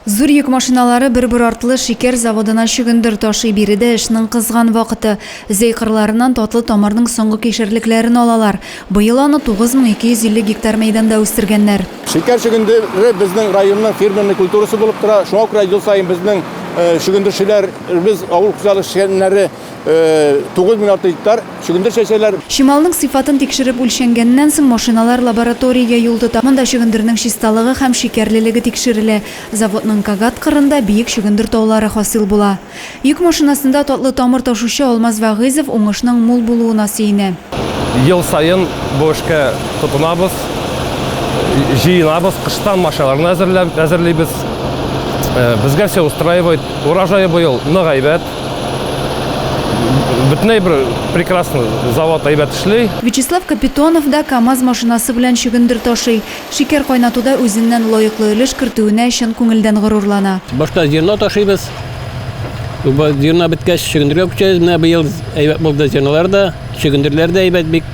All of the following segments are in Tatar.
Зур йөк машиналары бер-бер артлы шикәр заводына чөгендер ташый биредә эшнең кызган вакыты. Зәй кырларыннан татлы тамырның соңгы кишерлекләрен алалар. Быел аны 9250 гектар мәйданда үстергәннәр. Шикәр чөгендере безнең районның фирменный культурасы булып тора. Шуңа күрә ел саен безнең чөгендерчеләребез, авыл хуҗалык эшчәннәре 9600 гектар чөгендер чәчәләр. Чималның сыйфатын тикшереп үлчәнгәннән соң, машиналар лабораториягә юл тота. Монда чөгендернең чисталыгы һәм шикәрлелеге тикшерелә. Заводның Кагат кырында биек чөгендер таулары хасил була. Йөк машинасында татлы тамыр ташучы Алмаз Вәгыйзов уңышның мул булуына сөенә. Ел саен бу эшкә тотынабыз, җыенабыз, кыштан машиналарны әзерлибез. Безгә все устраивает. Урожае быел нык әйбәт. бөтенләй бер прекрасно завод әйбәт эшли. Вячеслав Капитонов да КАМАЗ машинасы белән чөгендер ташый. Шикәр кайнатуда үзеннән лаеклы өлеш кертүенә чын күңелдән горурлана. Башта зерно ташыйбыз. Зерно беткәч, чөгендергә күчәбез. Менә быел әйбәт булды зернолар да, чөгендерләр дә әйбәт, бик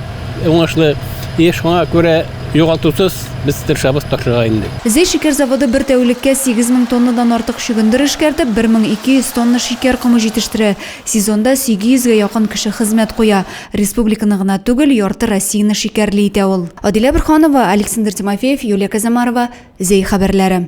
уңышлы. И шуңа күрә Югалтусыз без тырышабыз ташырга инде. Зәй шикәр заводы бер тәүлеккә 8 мең тоннадан артык чөгендер эшкәртеп, 1200 тонна шикәр комы җитештерә. Сезонда 800 гә якын кеше хезмәт куя. Республиканы гына түгел, ярты Россияне шикәрле итә ул. Адилә Борһанова, Александр Тимофеев, Юлия Казамарова, Зәй хәбәрләре.